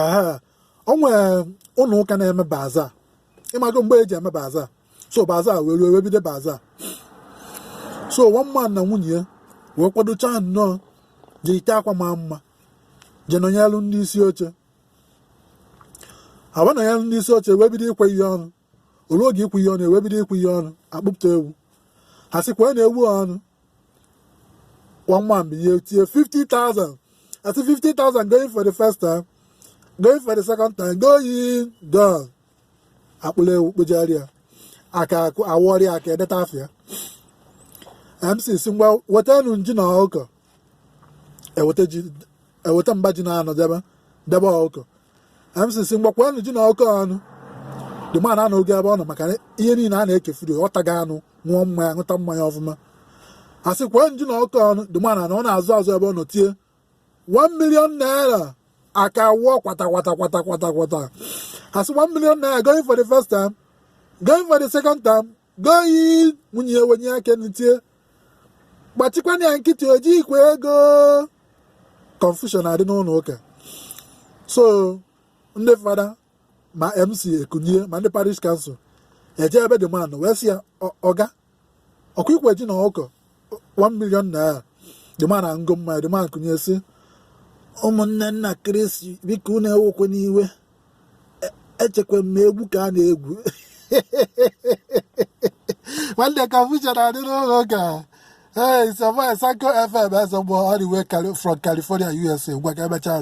ee o nwere ụlọ ụka na-eme baza ịmago mgbe e ji eme baza so baza wee ruo wee bido baza so one man na nwunye ya wee kwadochaa nnọọ jike akwa maa mma je nọnyelu ndị isi oche ha wee nọnyelu ndị isi oche wee bido ikwe ihe ọnụ o ruo oge ikwe ihe ọnụ ewee bido ikwe ihe ọnụ akpụpụta ewu a sị kwenụ ewu ọnụ one man binye tie 50,000 asị 50,000 going for the first time going for the second time going gone akpụlụ ewu kpụjara ya aka awọrị aka edeta afịa mc sị ngwa wetanụ ji na ọkụkọ eweta mba ji naanọ debe debe ọkụkọ mc sị ngwa kwenụ ji na ọkụkọ ọnụ the man anọ oge ebe ọ nọ maka ihe niile a na-ekefuru ọ taga anụ ṅụọ mmanya ṅụta mmanya ọfụma a sị kwenụ ji na ọkụkọ ọnụ the man anọ n'azụ azụ ebe ọ nọ tie 1 million naira aka wụọ kwata kwata kwata kwata kwata a sị 1 million naira going for the first time going for the second time going nwunye ya wenye aka tie gbachikwanụ ya nkịtị o jighịkwa ego confusion adị n'ụlọ ụka so ndị fada ma mc ekunye ma ndị parish council eje ebe the man wee sị ya oga ọkwa i kwe ji na ọkụkọ 1 million naira the man aṅụgo mmanya the man kunye sị ụmụnne m na kristi biko unu ewekwana iwe echekwa m na egwu ka a na-egwu nwanne confusion adị n'ụlọ ụka ee sọmọ sanko fm ezọgbọ all the way from california usa ngwa ka emechaa